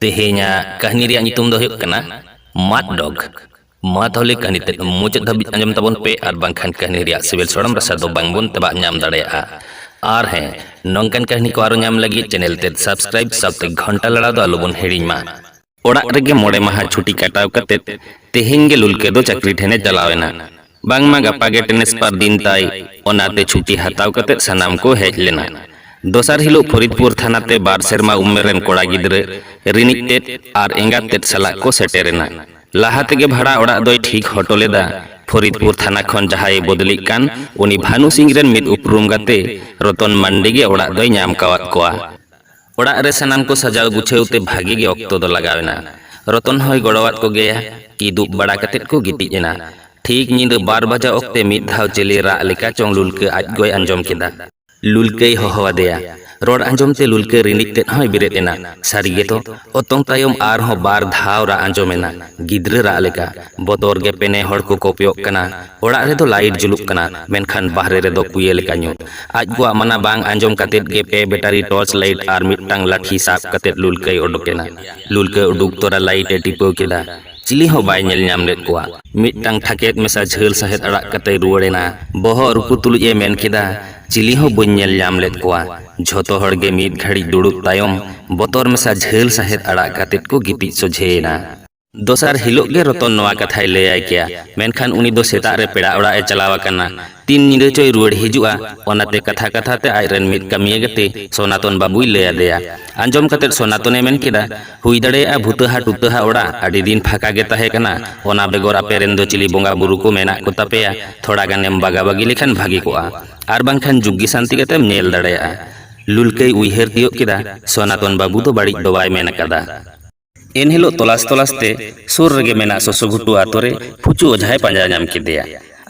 ᱛᱮᱦᱮᱧᱟᱜ ᱠᱟᱹᱦᱱᱤ ᱨᱮᱭᱟᱜ ᱧᱩᱛᱩᱢ ᱫᱚ ᱦᱩᱭᱩᱜ ᱠᱟᱱᱟ ᱢᱟᱫ ᱰᱚᱜᱽ ᱢᱟ ᱛᱟᱦᱚᱞᱮ ᱠᱟᱹᱦᱱᱤ ᱛᱮᱫ ᱢᱩᱪᱟᱹᱫ ᱫᱷᱟᱹᱵᱤᱡ ᱟᱸᱡᱚᱢ ᱛᱟᱵᱚᱱ ᱯᱮ ᱟᱨ ᱵᱟᱝᱠᱷᱟᱱ ᱠᱟᱹᱦᱱᱤ ᱨᱮᱭᱟᱜ ᱥᱤᱵᱤᱞ ᱥᱚᱲᱚᱢ ᱨᱟᱥᱟ ᱫᱚ ᱵᱟᱝᱵᱚᱱ ᱛᱟᱵᱟᱜ ᱧᱟᱢ ᱫᱟᱲᱮᱭᱟᱜᱼᱟ ᱟᱨ ᱦᱮᱸ ᱱᱚᱝᱠᱟᱱ ᱠᱟᱹᱦᱱᱤ ᱠᱚ ᱟᱨᱚ ᱧᱟᱢ ᱞᱟᱹᱜᱤᱫ ᱪᱮᱱᱮᱞ ᱛᱮᱫ ᱥᱟᱵᱥᱠᱨᱟᱭᱤᱵ ᱥᱟᱶᱛᱮ ᱜᱷᱚᱱᱴᱟ ᱞᱟᱲᱟᱣ ᱫᱚ ᱟᱞᱚᱵᱚᱱ ᱦᱤᱲᱤᱧ ᱢᱟ ᱚᱲᱟᱜ ᱨᱮᱜᱮ ᱢᱚᱬᱮ ᱢᱟᱦᱟ ᱪᱷᱩᱴᱤ ᱠᱟᱴᱟᱣ ᱠᱟᱛᱮ ᱛᱮᱦᱮᱧ ᱜᱮ ᱞᱩᱞᱠᱮ ᱫᱚ ᱪᱟᱹᱠᱨᱤ ᱴᱷᱮᱱᱮ ᱪᱟᱞᱟᱣ ᱮᱱᱟ ᱵᱟᱝᱢᱟ ᱜᱟᱯᱟ ᱜᱮ ᱴᱮᱱᱤᱥ ᱯᱟᱨ ᱫᱤᱱ ᱛᱟᱭ ᱚᱱᱟᱛᱮ ᱪᱷᱩᱴᱤ ᱦᱟᱛᱟᱣ ᱠᱟᱛᱮ ᱥᱟᱱᱟᱢ ᱠᱚ ᱦᱮᱡ ᱞᱮᱱᱟ ᱫᱚᱥᱟᱨ ᱦᱤᱞᱳᱜ ᱯᱷᱚᱨᱤᱫᱯᱩᱨ ᱛᱷᱟᱱᱟ ᱛᱮ ᱵᱟᱨ ᱥᱮᱨᱢᱟ ᱩᱢᱮᱨ ᱨᱮᱱ ᱠᱚᱲᱟ ᱜᱤᱫᱽᱨᱟᱹ ᱨᱤᱱᱤᱡ ᱛᱮᱫ ᱟᱨ ᱮᱸᱜᱟᱛ ᱛᱮᱫ ᱥᱟᱞᱟᱜ ᱠᱚ ᱥᱮᱴᱮᱨᱮᱱᱟ ᱞᱟᱦᱟ ᱛᱮᱜᱮ ᱵᱷᱟᱲᱟ ᱚᱲᱟᱜ ᱫᱚᱭ ᱴᱷᱤᱠ ᱦᱚᱴᱚ ᱞᱮᱫᱟ ᱯᱷᱚᱨᱤᱫᱯᱩᱨ ᱛᱷᱟᱱᱟ ᱠᱷᱚᱱ ᱡᱟᱦᱟᱸᱭ ᱵᱚᱫᱞᱤᱜ ᱠᱟᱱ ᱩᱱᱤ ᱵᱷᱟᱱᱩ ᱥᱤᱝ ᱨᱮᱱ ᱢᱤᱫ ᱩᱯᱨᱩᱢ ᱜᱟᱛᱮ ᱨᱚᱛᱚᱱ ᱢᱟᱱᱰᱤ ᱜᱮ ᱚᱲᱟᱜ ᱫᱚᱭ ᱧᱟᱢ ᱠᱟᱣᱟᱫ ᱠᱚᱣᱟ ᱚᱲᱟᱜ ᱨᱮ ᱥᱟᱱᱟᱢ ᱠᱚ ᱥᱟᱡᱟᱣ ᱜᱩᱪᱷᱟᱹᱣ ᱛᱮ ᱵᱷᱟᱹᱜᱤ ᱜᱮ ᱚᱠᱛᱚ ᱫᱚ ᱞᱟᱜᱟᱣ ᱮᱱᱟ᱾ ᱨᱚᱛᱚᱱ ᱦᱚᱸᱭ ᱜᱚᱲᱚᱣᱟᱫ ᱠᱚ ᱜᱮᱭᱟ᱾ ᱠᱤᱫᱩᱵ ᱵᱟᱲᱟ ᱠᱟᱛᱮ ᱠᱚ ᱜᱤᱛᱤᱡ ᱮᱱᱟ᱾ ᱴᱷᱤᱠ ᱧᱤᱫᱟᱹ ᱵᱟᱨ ᱵᱟᱡᱟᱣ ᱚᱠᱛᱮ ᱢᱤᱫ ᱫᱷᱟᱣ ᱪᱤᱞᱤ ᱨᱟᱜ ᱞᱮᱠᱟ ᱪᱚᱝ ᱞᱩᱞᱠᱟᱹ ᱟᱡ ᱜᱚᱭ ᱟᱸᱡᱚᱢ ᱠᱮᱫᱟ᱾ ᱞᱩᱞᱠᱟᱹᱭ ᱦᱚᱦᱚ ᱟᱫᱮᱭᱟ᱾ ᱨᱚᱲ ᱟᱸᱡᱚᱢ ᱛᱮ ᱞᱩᱞᱠᱟᱹ ᱨᱤᱸᱰᱤᱡ ᱛᱮᱫ ᱦᱚᱸᱭ ᱵᱮᱨᱮᱫ ᱮᱱᱟ᱾ ᱥᱟᱹᱨᱤ ᱜᱮᱛᱚ, ᱚᱛᱚᱝ ᱛᱟᱭᱚᱢ ᱟᱨ ᱦᱚᱸ ᱵᱟᱨ ᱫᱷᱟᱣ ᱨᱟᱜ ᱟᱸᱡᱚᱢ ᱮᱱᱟ᱾ ᱜᱤᱫᱽᱨᱟᱹ ᱨᱟᱜ ᱞᱮᱠᱟ᱾ ᱵᱚᱛᱚᱨ ᱜᱮ ᱯᱮᱱᱮ ᱦᱚᱲ ᱠᱚ ᱠᱚᱯᱭᱚᱜ ᱠᱟᱱᱟ᱾ ᱚᱲᱟᱜ ᱨᱮᱫᱚ ᱞᱟᱭᱤᱴ ᱡᱩᱞᱩᱜ ᱠᱟᱱᱟ ᱢᱮᱱᱠᱷᱟᱱ ᱵᱟᱦᱨᱮ ᱨᱮᱫᱚ ᱠᱩᱭᱮ ᱞᱮᱠᱟ ᱧᱩᱛ᱾ ᱟᱡ ᱜᱚᱣᱟᱜ ᱢᱟᱱᱟ ᱵᱟᱝ ᱟᱸᱡᱚᱢ ᱠᱟᱛᱮ ᱜᱮ ᱯᱮ ᱵᱮᱴᱟᱨᱤ ᱴᱚᱨᱪ ᱞᱟᱭᱤᱴ ᱟᱨ ᱢᱤᱫᱴᱟᱝ ᱞᱟᱴᱷᱤ ᱥᱟᱵ ᱠᱟᱛᱮ ᱞᱩᱞᱠᱟᱹᱭ ᱚᱰᱚᱠ ᱮᱱᱟ᱾ ᱞᱩᱞᱠᱟᱹ ᱩᱰᱩᱠ ᱛᱚᱨᱟ ᱞᱟᱭᱤᱴ ᱮ ᱴᱤᱯᱟᱹᱣ ᱠᱮᱫᱟ᱾ ᱪᱤᱞᱤ ᱦᱚᱸ ᱵᱟᱭ ᱧᱮᱞ ᱧᱟᱢ ᱞᱮᱫ ᱠᱚᱣᱟ᱾ ᱢᱤᱫᱴᱟᱝ ᱴᱷᱟᱠᱮᱫ ᱢᱮᱥᱟ ᱡᱷᱟᱹᱞ ᱥᱟᱦᱮᱫ ᱟᱲᱟᱜ ᱠᱟᱛᱮᱭ ᱨᱩᱣᱟᱹᱲ ᱮᱱᱟ᱾ ᱵᱚᱦᱚᱜ ᱨᱩᱠᱩ ᱛᱩᱞᱩᱡ ᱮ ᱢᱮᱱ ᱠᱮᱫᱟ, ᱪᱤᱞᱤ ᱦᱚᱸ ᱵᱟᱹᱧ ᱧᱮᱞ ᱧᱟᱢ ᱞᱮᱫ ᱠᱚᱣᱟ᱾ ᱡᱷᱚᱛᱚ ᱦᱚᱲ ᱜᱮ ᱢᱤᱫ ᱜᱷᱟᱹᱲᱤᱡ ᱫᱩᱲᱩᱵ ᱛᱟᱭᱚᱢ ᱵᱚᱛᱚᱨ ᱢᱮᱥᱟ ᱡᱷᱟᱹᱞ ᱥᱟᱦᱮᱫ ᱟᱲᱟᱜ ᱠᱟᱛᱮ ᱠᱚ ᱜᱤᱛᱤᱡ ᱥᱚᱡᱷᱮ ᱮᱱᱟ᱾ ᱫᱚᱥᱟᱨ ᱦᱤᱞᱚᱜ ᱜᱮ ᱨᱚᱛᱚᱱ ᱱᱚᱣᱟ ᱠᱟᱛᱷᱟᱭ ᱞᱟᱹᱭ ᱟᱭ ᱠᱮᱭᱟ, ᱢᱮᱱᱠᱷᱟᱱ ᱩᱱᱤ ᱫᱚ ᱥᱮᱛᱟᱜ ᱨᱮ ᱯᱮᱲᱟ ᱚᱲᱟᱜ ᱮ ᱪᱟᱞᱟᱣ ᱟᱠᱟᱱᱟ᱾ ᱛᱤᱱ ᱧᱤᱫᱟᱹ ᱪᱚᱭ ᱨᱩᱣᱟᱹᱲ ᱦᱤᱡᱩᱜᱼᱟ᱾ ᱚᱱᱟᱛᱮ ᱠᱟᱛᱷᱟ ᱠᱟᱛᱷᱟ ᱛᱮ ᱟᱡ ᱨᱮᱱ ᱢᱤᱫ ᱠᱟᱹᱢᱤᱭᱟᱹ ᱜᱟᱛᱮ ᱥᱚᱱᱟᱛᱚᱱ ᱵᱟᱹᱵᱩᱭ ᱞᱟᱹᱭ ᱟᱫᱮᱭᱟ᱾ ᱟᱸᱡᱚᱢ ᱠᱟᱛᱮ ᱥᱚᱱᱟᱛᱚᱱ ᱮ ᱢᱮᱱ ᱠᱮᱫᱟ, ᱦᱩᱭ ᱫᱟᱲᱮᱭᱟᱜᱼᱟ ᱵᱷᱩᱛᱟᱹᱦᱟ ᱴᱩᱛᱟᱹᱦᱟ ᱚᱲᱟᱜ ᱟᱹᱰᱤ ᱫᱤᱱ ᱯᱷᱟᱸᱠᱟ ᱜᱮ ᱛᱟᱦᱮᱸ ᱠᱟᱱᱟ᱾ ᱚᱱᱟ ᱵᱮᱜᱚᱨ ᱟᱯᱮ ᱨᱮᱱ ᱫᱚ ᱪᱤᱞᱤ ᱵᱚᱸᱜᱟ ᱵᱩᱨᱩ ᱠᱚ ᱢᱮᱱᱟᱜ ᱠᱚ ᱛᱟᱯᱮᱭᱟ, ᱛᱷᱚᱲᱟ ᱜᱟᱱ ᱮᱢ ᱵᱟᱜᱟ ᱵᱟᱹᱜᱤ ᱞᱮᱠᱷᱟᱱ ᱵᱷᱟᱹᱜᱤ ᱠᱚᱜᱼᱟ᱾ ᱟᱨ ᱵᱟᱝᱠᱷᱟᱱ ᱡᱩᱜᱽᱜᱤ ᱥᱟᱱᱛᱤ ᱠᱟᱛᱮᱢ ᱧᱮᱞ ᱫᱟᱲᱮᱭᱟᱜᱼᱟ᱾ ᱞᱩᱞᱠᱟᱹᱭ ᱩᱭᱦᱟᱹᱨ ᱛᱤᱭᱚᱜ ᱠᱮᱫᱟ, ᱥᱚᱱᱟᱛᱚᱱ ᱵᱟᱹᱵᱩ ᱫᱚ ᱵᱟᱹᱲᱤᱡ ᱫᱚ ᱵᱟᱭ ᱢᱮᱱ ᱟᱠᱟᱫᱟ᱾ ᱮᱱᱦᱤᱞᱚᱜ ᱛᱚᱞᱟᱥ ᱛᱚᱞᱟᱥ ᱛᱮ ᱥᱩᱨ ᱨᱮᱜᱮ ᱢᱮᱱᱟᱜ ᱥᱚᱥᱚ ᱜᱷᱩᱴᱩ ᱟᱛᱳ ᱨᱮ ᱯᱷᱩᱪᱩ ᱚᱡᱷᱟᱭ ᱯᱟᱸᱡᱟ ᱧᱟᱢ ᱠᱮᱫᱮᱭᱟ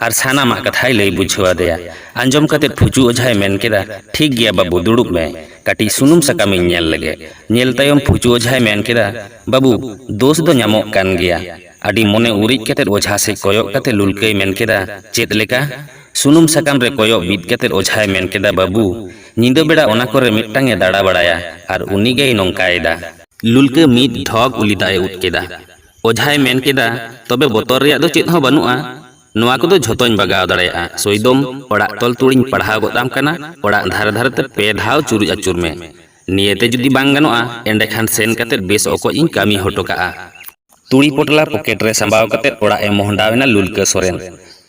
ᱟᱨ ᱥᱟᱱᱟᱢᱟᱜ ᱠᱟᱛᱷᱟᱭ ᱞᱟᱹᱭ ᱵᱩᱡᱷᱟᱹᱣ ᱟᱫᱮᱭᱟ ᱟᱸᱡᱚᱢ ᱠᱟᱛᱮ ᱯᱷᱩᱪᱩ ᱚᱡᱷᱟᱭ ᱢᱮᱱ ᱠᱮᱫᱟ ᱴᱷᱤᱠ ᱜᱮᱭᱟ ᱵᱟᱹᱵᱩ ᱫᱩᱲᱩᱵ ᱢᱮ ᱠᱟᱹᱴᱤᱡ ᱥᱩᱱᱩᱢ ᱥᱟᱠᱟᱢᱤᱧ ᱧᱮᱞ ᱞᱮᱜᱮ ᱧᱮᱞ ᱛᱟᱭᱚᱢ ᱯᱷᱩᱪᱩ ᱚᱡᱷᱟᱭ ᱢᱮᱱ ᱠᱮᱫᱟ ᱵᱟᱹᱵᱩ ᱫᱳᱥ ᱫᱚ ᱧᱟᱢᱚᱜ ᱠᱟᱱ ᱜᱮᱭᱟ ᱟᱹᱰᱤ ᱢᱚᱱᱮ ᱩᱨᱤᱡ ᱠᱟᱛᱮ ᱚᱡᱷᱟ ᱥᱮᱫ ᱠᱚᱭᱚᱜ ᱠᱟᱛᱮ ᱞᱩᱞᱠᱟᱹᱭ ᱢᱮᱱ ᱠᱮᱫᱟ ᱪᱮᱫ ᱞᱮᱠᱟ ᱥᱩᱱᱩᱢ ᱥᱟᱠᱟᱢ ᱨᱮ ᱠᱚᱭᱚᱜ ᱵᱤᱫ ᱠᱟᱛᱮ ᱚᱡᱷᱟᱭ ᱢᱮᱱ ᱠᱮᱫᱟ ᱵᱟᱹᱵᱩ ᱧᱤᱫᱟᱹ ᱵᱮᱲᱟ ᱚᱱᱟ ᱠᱚᱨᱮ ᱢᱤᱫᱴᱟᱝ ᱮ ᱫᱟᱲᱟ ᱵᱟᱲᱟᱭᱟ ᱟᱨ ᱩᱱᱤ ᱜᱮᱭ ᱱᱚᱝᱠᱟᱭᱮᱫᱟ ᱞᱩᱞᱠᱟᱹ ᱢᱤᱫ ᱰᱷᱚᱠ ᱩᱞᱤ ᱫᱟᱜ ᱮ ᱩᱫ ᱠᱮᱫᱟ᱾ ᱚᱡᱷᱟᱭ ᱢᱮᱱ ᱠᱮᱫᱟ, ᱛᱚᱵᱮ ᱵᱚᱛᱚᱨ ᱨᱮᱭᱟᱜ ᱫᱚ ᱪᱮᱫ ᱦᱚᱸ ᱵᱟᱹᱱᱩᱜᱼᱟ᱾ ᱱᱚᱶᱟ ᱠᱚᱫᱚ ᱡᱷᱚᱛᱚᱧ ᱵᱟᱜᱟᱣ ᱫᱟᱲᱮᱭᱟᱜᱼᱟ᱾ ᱥᱚᱭᱫᱚᱢ, ᱚᱲᱟᱜ ᱛᱚᱞ ᱛᱩᱲ ᱤᱧ ᱯᱟᱲᱦᱟᱣ ᱜᱚᱫ ᱟᱢ ᱠᱟᱱᱟ᱾ ᱚᱲᱟᱜ ᱫᱷᱟᱨᱮ ᱫᱷᱟᱨᱮ ᱛᱮ ᱯᱮ ᱫᱷᱟᱣ ᱪᱩᱨᱩᱡ ᱟᱹᱪᱩᱨ ᱢᱮ᱾ ᱱᱤᱭᱟᱹ ᱛᱮ ᱡᱩᱫᱤ ᱵᱟᱝ ᱜᱟᱱᱚᱜᱼᱟ, ᱮᱸᱰᱮ ᱠᱷᱟᱱ ᱥᱮᱱ ᱠᱟᱛᱮ ᱵᱮᱥ ᱚᱠᱚᱡ ᱤᱧ ᱠᱟᱹᱢᱤ ᱦᱚᱴᱚ ᱠᱟᱜᱼᱟ᱾ ᱛᱩᱲᱤ ᱯᱚᱴᱞᱟ ᱯᱚᱠᱮᱴ ᱨᱮ ᱥᱟᱢᱵᱟᱣ ᱠᱟᱛᱮ ᱚᱲᱟᱜ ᱮ ᱢᱚᱦᱰᱟᱣ ᱮᱱᱟ ᱞᱩᱞᱠᱟᱹ ᱥᱚᱨᱮᱱ᱾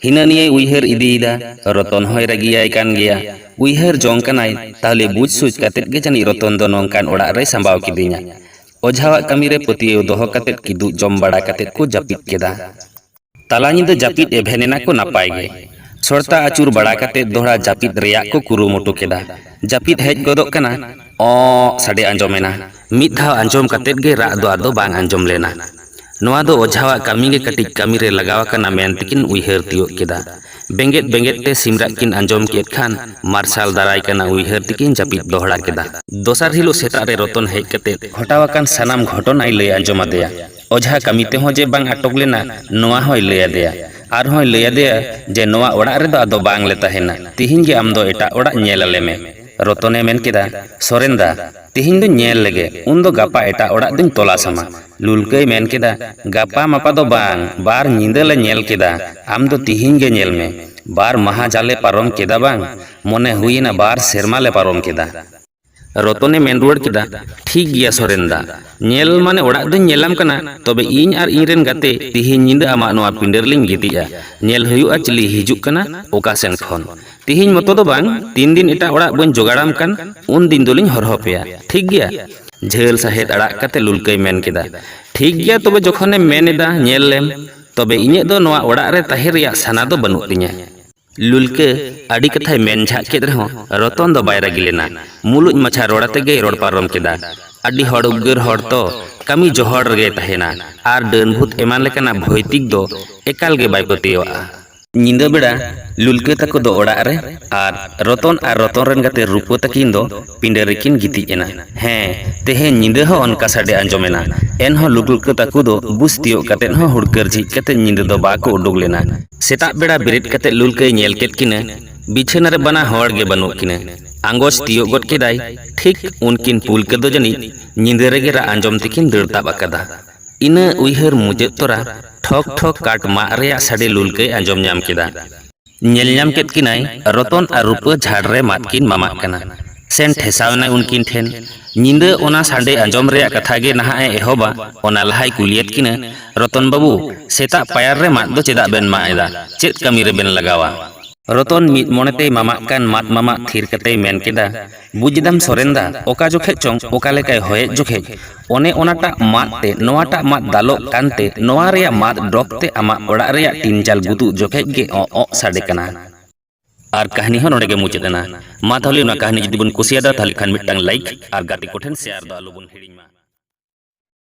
ᱦᱤᱱᱟᱹ ᱱᱤᱭᱟᱹᱭ ᱩᱭᱦᱟᱹᱨ ᱤᱫᱤᱭᱮᱫᱟ᱾ ᱨᱚᱛᱚᱱ ᱦᱚᱸᱭ ᱨᱟᱹᱜᱤᱭᱟᱭ ᱠᱟᱱ ᱜᱮᱭᱟ᱾ ᱩᱭᱦᱟᱹᱨ ᱡᱚᱝ ᱠᱟᱱᱟᱭ, ᱛᱟᱦᱞᱮ ᱵᱩᱡᱽ ᱥᱩᱡᱽ ᱠᱟᱛᱮ ᱜᱮ ᱡᱟᱹᱱᱤᱡ ᱨᱚᱛᱚᱱ ᱫᱚ ᱱᱚᱝᱠᱟᱱ ᱚᱲᱟᱜ ᱨᱮᱭ ᱥᱟᱢᱵᱟᱣ ᱠᱤᱫᱤᱧᱟ᱾ ᱚᱡᱷᱟᱣᱟᱜ ᱠᱟᱹᱢᱤ ᱨᱮ ᱯᱟᱹᱛᱭᱟᱹᱣ ᱫᱚᱦᱚ ᱠᱟᱛᱮ ᱠᱤᱫᱩᱜ ᱡᱚᱢ ᱵᱟᱲᱟ ᱠᱟᱛᱮ ᱠᱚ ᱡᱟᱹᱯᱤᱫ ᱠᱮᱫᱟ᱾ ᱛᱟᱞᱟ ᱧᱤᱫᱟᱹ ᱡᱟᱹᱯᱤᱫ ᱮ ᱵᱷᱮᱱ ᱮᱱᱟ ᱠᱚ ᱱᱟᱯᱟᱭ ᱜᱮ᱾ ᱥᱚᱲᱛᱟ ᱟᱹᱪᱩᱨ ᱵᱟᱲᱟ ᱠᱟᱛᱮ ᱫᱚᱦᱲᱟ ᱡᱟᱹᱯᱤᱫ ᱨᱮᱭᱟᱜ ᱠᱚ ᱠᱩᱨᱩᱢᱩᱴᱩ ᱠᱮᱫᱟ᱾ ᱡᱟᱹᱯᱤᱫ ᱦᱮᱡ ᱜᱚᱫᱚᱜ ᱠᱟᱱᱟ᱾ ᱚᱸᱻ ᱥᱟᱰᱮ ᱟᱸᱡᱚᱢ ᱮᱱᱟ᱾ ᱢᱤᱫ ᱫᱷᱟᱣ ᱟᱸᱡᱚᱢ ᱠᱟᱛᱮ ᱜᱮ ᱨᱟᱜ ᱫᱚ ᱟᱫᱚ ᱵᱟᱝ ᱟᱸᱡᱚᱢ ᱞᱮᱱᱟ᱾ ᱱᱚᱶᱟ ᱫᱚ ᱚᱡᱷᱟᱣᱟᱜ ᱠᱟᱹᱢᱤ ᱜᱮ ᱠᱟᱹᱴᱤᱡ ᱠᱟᱹᱢᱤ ᱨᱮ ᱞᱟᱜᱟᱣ ᱟᱠᱟᱱᱟ ᱢᱮᱱ ᱛᱮᱠᱤᱱ ᱩᱭᱦᱟᱹᱨ ᱛᱤᱭᱚᱜ ᱠᱮᱫᱟ᱾ ᱵᱮᱸᱜᱮᱫ ᱵᱮᱸᱜᱮᱫ ᱛᱮ ᱥᱤᱢ ᱨᱟᱜ ᱠᱤᱱ ᱟᱸᱡᱚᱢ ᱠᱮᱫ ᱠᱷᱟᱱ ᱢᱟᱨᱥᱟᱞ ᱫᱟᱨᱟᱭ ᱠᱟᱱᱟ ᱩᱭᱦᱟᱹᱨ ᱛᱮᱠᱤᱱ ᱡᱟᱹᱯᱤᱫ ᱫᱚᱦᱲᱟ ᱠᱮᱫᱟ᱾ ᱫᱚᱥᱟᱨ ᱦᱤᱞᱚᱜ ᱥᱮᱛᱟᱜ ᱨᱮ ᱨᱚᱛᱚᱱ ᱦᱮᱡ ᱠᱟᱛᱮ ᱜᱷᱚᱴᱟᱣ ᱟᱠᱟᱱ ᱥᱟᱱᱟᱢ ᱜᱷᱚᱴᱚᱱᱟᱭ ᱞᱟᱹᱭ ᱟᱸᱡᱚᱢ ᱟᱫᱮᱭᱟ᱾ ᱚᱡᱷᱟ ᱠᱟᱹᱢᱤ ᱛᱮᱦᱚᱸ ᱡᱮ ᱵᱟᱝ ᱟᱴᱚᱠ ᱞᱮᱱᱟ ᱱᱚᱶᱟ ᱦᱚᱸᱭ ᱞᱟᱹᱭ ᱟᱫᱮᱭᱟ᱾ ᱟᱨᱦᱚᱸᱭ ᱞᱟᱹᱭ ᱟᱫᱮᱭᱟ ᱡᱮ ᱱᱚᱶᱟ ᱚᱲᱟᱜ ᱨᱮᱫᱚ ᱟᱫᱚ ᱵᱟᱝ ᱞᱮ ᱛᱟᱦᱮᱸᱱᱟ᱾ ᱛᱤᱦᱤᱧ ᱜᱮ ᱟᱢ ᱫᱚ ᱮᱴᱟᱜ ᱚᱲᱟᱜ ᱧᱮᱞ ᱟᱞᱮ ᱢᱮ᱾ ᱨᱚᱛᱚᱱ ᱮ ᱢᱮᱱ ᱠᱮᱫᱟ, ᱥᱚᱨᱮᱱ ᱫᱟ, ᱛᱤᱦᱤᱧ ᱫᱚᱧ ᱧᱮᱞ ᱞᱮᱜᱮ, ᱩᱱ ᱫᱚ ᱜᱟᱯᱟ ᱮᱴᱟᱜ ᱚᱲᱟᱜ ᱫᱚᱧ ᱛᱚᱞᱟᱥ ᱟᱢᱟ᱾ ᱞᱩᱞᱠᱟᱹᱭ ᱢᱮᱱ ᱠᱮᱫᱟ, ᱜᱟᱯᱟ ᱢᱟᱯᱟ ᱫᱚ ᱵᱟᱝ, ᱵᱟᱨ ᱧᱤᱫᱟᱹ ᱞᱮ ᱧᱮᱞ ᱠᱮᱫᱟ, ᱟᱢ ᱫᱚ ᱛᱤᱦᱤᱧ ᱜᱮ ᱧᱮᱞ ᱢᱮ᱾ ᱵᱟᱨ ᱢᱟᱦᱟᱸ ᱡᱟᱞᱮ ᱯᱟᱨᱚᱢ ᱠᱮᱫᱟ ᱵᱟᱝ, ᱢᱚᱱᱮ ᱦᱩᱭ ᱮᱱᱟ ᱵᱟᱨ ᱥᱮᱨᱢᱟ ᱞᱮ ᱯᱟᱨᱚᱢ ᱠᱮᱫᱟ᱾ ᱨᱚᱛᱚᱱᱮ ᱢᱮᱱ ᱨᱩᱣᱟᱹᱲ ᱠᱮᱫᱟ, ᱴᱷᱤᱠ ᱜᱮᱭᱟ ᱥᱚᱨᱮᱱ ᱫᱟ᱾ ᱧᱮᱞ ᱢᱟᱱᱮ ᱚᱲᱟᱜ ᱫᱚᱧ ᱧᱮᱞᱟᱢ ᱠᱟᱱᱟ, ᱛᱚᱵᱮ ᱤᱧ ᱟᱨ ᱤᱧ ᱨᱮᱱ ᱜᱟᱛᱮ ᱛᱤᱦᱤᱧ ᱧᱤᱫᱟᱹ ᱟᱢᱟᱜ ᱱᱚᱣᱟ ᱯᱤᱸᱰᱟᱹ ᱨᱮᱞᱤᱧ ᱜᱤᱛᱤᱡᱼᱟ᱾ ᱧᱮᱞ ᱦᱩᱭᱩᱜᱼᱟ ᱪᱤᱞᱤᱭ ᱦᱤᱡᱩᱜ ᱠᱟᱱᱟ ᱚᱠᱟ ᱥᱮᱱ ᱠᱷᱚᱱ᱾ ᱛᱤᱦᱤᱧ ᱢᱚᱛᱚ ᱫᱚ ᱵᱟᱝ, ᱛᱤᱱ ᱫᱤᱱ ᱮᱴᱟᱜ ᱚᱲᱟᱜ ᱵᱟᱹᱧ ᱡᱚᱜᱟᱲᱟᱢ ᱠᱟᱱ, ᱩᱱ ᱫᱤᱱ ᱫᱚᱞᱤᱧ ᱦᱚᱨᱦᱚ ᱯᱮᱭᱟ᱾ ᱴᱷᱤᱠ ᱜᱮᱭᱟ? ᱡᱷᱟᱹᱞ ᱥᱟᱦᱮᱫ ᱟᱲᱟᱜ ᱠᱟᱛᱮ ᱞᱩᱞᱠᱟᱹᱭ ᱢᱮᱱ ᱠᱮᱫᱟ, ᱴᱷᱤᱠ ᱜᱮᱭᱟ ᱛᱚᱵᱮ ᱡᱚᱠᱷᱚᱱᱮᱢ ᱢᱮᱱ ᱮᱫᱟ ᱧᱮᱞ ᱞᱮᱢ᱾ ᱛᱚᱵᱮ ᱤᱧᱟᱜ ᱫᱚ ᱱᱚᱣᱟ ᱚᱲᱟᱜ ᱨᱮ ᱛᱟᱦᱮᱸ ᱨᱮᱭᱟᱜ ᱥᱟᱱᱟ ᱫᱚ ᱵᱟᱹᱱᱩᱜ ᱛᱤᱧᱟ᱾ ᱞᱩᱞᱠᱟᱹ ᱟᱹᱰᱤ ᱠᱟᱛᱷᱟᱭ ᱢᱮᱱ ᱡᱷᱟᱜ ᱠᱮᱫ ᱨᱮᱦᱚᱸ ᱨᱚᱛᱚᱱ ᱫᱚ ᱵᱟᱭ ᱨᱟᱹᱜᱤ ᱞᱮᱱᱟ᱾ ᱢᱩᱞᱩᱡ ᱢᱟᱪᱷᱟ ᱨᱚᱲ ᱟᱛᱮ ᱜᱮᱭ ᱨᱚᱲ ᱯᱟᱨᱚᱢ ᱠᱮᱫᱟ, ᱟᱹᱰᱤ ᱦᱚᱲ ᱩᱫᱽᱜᱟᱹᱨ ᱦᱚᱲ ᱛᱚ ᱠᱟᱹᱢᱤ ᱡᱚᱦᱚᱲ ᱨᱮᱜᱮᱭ ᱛᱟᱦᱮᱸᱱᱟ ᱟᱨ ᱰᱟᱹᱱ ᱵᱷᱩᱛ ᱮᱢᱟᱱ ᱞᱮᱠᱟᱱᱟᱜ ᱵᱷᱳᱭᱛᱤᱠ ᱫᱚ ᱮᱠᱟᱞ ᱜᱮ ᱵᱟᱭ ᱯᱟᱹᱛᱭᱟᱹᱣᱟᱜᱼᱟ᱾ ᱧᱤᱫᱟᱹ ᱵᱮᱲᱟ ᱞᱩᱞᱠᱟᱹ ᱛᱟᱠᱚ ᱫᱚ ᱚᱲᱟᱜ ᱨᱮ ᱟᱨ ᱨᱚᱛᱚᱱ ᱟᱨ ᱨᱚᱛᱚᱱ ᱨᱮᱱ ᱜᱟᱛᱮ ᱨᱩᱯᱟᱹ ᱛᱟᱹᱠᱤᱱ ᱫᱚ ᱯᱤᱸᱰᱟᱹ ᱨᱮᱠᱤᱱ ᱜᱤᱛᱤᱡ ᱮᱱᱟ᱾ ᱦᱮᱸ, ᱛᱮᱦᱮᱧ ᱧᱤᱫᱟᱹ ᱦᱚᱸ ᱚᱱᱠᱟ ᱥᱟᱰᱮ ᱟᱸᱡᱚᱢ ᱮᱱᱟ᱾ ᱮᱱᱦᱚᱸ ᱞᱩᱜᱽᱲᱠᱟᱹ ᱛᱟᱠᱚ ᱫᱚ ᱵᱩᱥ ᱛᱤᱭᱳᱜ ᱠᱟᱛᱮ ᱦᱚᱸ ᱦᱩᱲᱠᱟᱹᱨ ᱡᱷᱤᱡ ᱠᱟᱛᱮ ᱧᱤᱫᱟᱹ ᱫᱚ ᱵᱟᱠᱚ ᱩᱰᱩᱠ ᱞᱮᱱᱟ᱾ ᱥᱮᱛᱟᱜ ᱵᱮᱲᱟ ᱵᱮᱨᱮᱫ ᱠᱟᱛᱮ ᱞᱩᱞᱠᱟᱹᱭ ᱧᱮᱞ ᱠᱮᱫ ᱠᱤᱱᱟ ᱵᱤᱪᱷᱟᱹᱱᱟ ᱨᱮ ᱵᱟᱱᱟ ᱦᱚᱲ ᱜᱮ ᱵᱟᱹᱱᱩᱜ ᱠᱤᱱᱟ᱾ ᱟᱸᱜᱚᱪ ᱛᱤᱭᱳᱜ ᱜᱚᱫ ᱠᱮᱫᱟᱭ ᱴᱷᱤᱠ ᱩᱱᱠᱤᱱ ᱯᱩᱞᱠᱟᱹ ᱫᱚ ᱡᱟᱹᱱᱤᱡ ᱧᱤᱫᱟᱹ ᱨᱮᱜᱮ ᱨᱟᱜ ᱟᱸᱡᱚᱢ ᱛᱮᱠᱤᱱ ᱫᱟᱹᱲ ᱛᱟᱵ ᱟᱠᱟᱫᱟ᱾ ᱤᱱᱟᱹ ᱩᱭᱦᱟᱹᱨ ᱢᱩᱪᱟᱹᱫ ᱛᱚᱨᱟ ᱴᱷᱚᱠ ᱴᱷᱚᱠ ᱠᱟᱴ ᱢᱟᱜ ᱨᱮᱭᱟᱜ ᱥᱟᱰᱮ ᱞᱩᱞᱠᱟᱹᱭ ᱟᱸᱡᱚᱢ ᱧᱟᱢ ᱠᱮᱫᱟ᱾ ᱧᱮᱞ ᱧᱟᱢ ᱠᱮᱫ ᱠᱤᱱᱟᱭ ᱨᱚᱛᱚᱱ ᱟᱨ ᱨᱩᱯᱟᱹ ᱡᱷᱟᱲ ᱨᱮ ᱢᱟᱫ ᱠᱤᱱ ᱢᱟᱢᱟᱜ ᱠᱟᱱᱟ᱾ ᱥᱮᱱ ᱴᱷᱮᱥᱟᱣ ᱮᱱᱟᱭ ᱩᱱᱠᱤᱱ ᱴᱷᱮᱱ᱾ ᱧᱤᱫᱟᱹ ᱚᱱᱟ ᱥᱟᱰᱮ ᱟᱸᱡᱚᱢ ᱨᱮᱭᱟᱜ ᱠᱟᱛᱷᱟ ᱜᱮ ᱱᱟᱦᱟᱜ ᱮ ᱮᱦᱚᱵᱟ ᱚᱱᱟ ᱞᱟᱦᱟᱭ ᱠᱩᱞᱤᱭᱮᱫ ᱠᱤᱱᱟ, ᱨᱚᱛᱚᱱ ᱵᱟᱹᱵᱩ, ᱥᱮᱛᱟᱜ ᱯᱟᱭᱟᱨ ᱨᱮ ᱢᱟᱫ ᱫᱚ ᱪᱮᱫᱟᱜ ᱵᱮᱱ ᱢᱟᱜ ᱮᱫᱟ? ᱪᱮᱫ ᱠᱟᱹᱢᱤ ᱨᱮ ᱵᱮᱱ ᱞᱟᱜᱟᱣᱟ? ᱨᱚᱛᱚᱱ ᱢᱤᱫ ᱢᱚᱱᱮ ᱛᱮᱭ ᱢᱟᱢᱟᱜ ᱠᱟᱱ ᱢᱟᱫ ᱢᱟᱢᱟᱜ ᱛᱷᱤᱨ ᱠᱟᱛᱮᱭ ᱢᱮᱱ ᱠᱮᱫᱟ, ᱵᱩᱡᱽ ᱮᱫᱟᱢ ᱥᱚᱨᱮᱱ ᱫᱟ ᱚᱠᱟ ᱡᱚᱠᱷᱮᱡ ᱪᱚᱝ ᱚᱠᱟ ᱞᱮᱠᱟᱭ ᱦᱚᱭᱮᱫ ᱡᱚᱠᱷᱮᱡ ᱚᱱᱮ ᱚᱱᱟᱴᱟᱜ ᱢᱟᱫ ᱛᱮ ᱱᱚᱣᱟᱴᱟᱜ ᱢᱟᱫ ᱫᱟᱞᱚᱜ ᱠᱟᱱᱛᱮ ᱱᱚᱣᱟ ᱨᱮᱭᱟᱜ ᱢᱟᱫ ᱰᱚᱜᱽ ᱛᱮ ᱟᱢᱟᱜ ᱚᱲᱟᱜ ᱨᱮᱭᱟᱜ ᱴᱤᱱ ᱪᱟᱞ ᱜᱩᱛᱩᱜ ᱡᱚᱠᱷᱮᱡ ᱜᱮ ᱚᱸᱜ ᱚᱸᱜ ᱥᱟᱰᱮ ᱠᱟᱱᱟ᱾ ᱟᱨ ᱠᱟᱹᱦᱱᱤ ᱦᱚᱸ ᱱᱚᱰᱮ ᱜᱮ ᱢᱩᱪᱟᱹᱫ ᱮᱱᱟ᱾ ᱢᱟ ᱛᱟᱦᱞᱮ ᱚᱱᱟ ᱠᱟᱹᱦᱱᱤ ᱡᱩᱫᱤ ᱵᱚᱱ ᱠᱩᱥᱤᱭᱟᱫᱟ ᱛᱟᱦᱞᱮ ᱠᱷᱟᱱ ᱢᱤᱫᱴᱟᱝ ᱞᱟᱭᱤᱠ ᱟᱨ ᱜᱟᱛᱮ ᱠᱚᱴᱷᱮᱱ ᱥᱮᱭᱟᱨ ᱫᱚ ᱟᱞᱚ ᱵᱚᱱ ᱦᱤᱲᱤᱧ ᱢᱟ᱾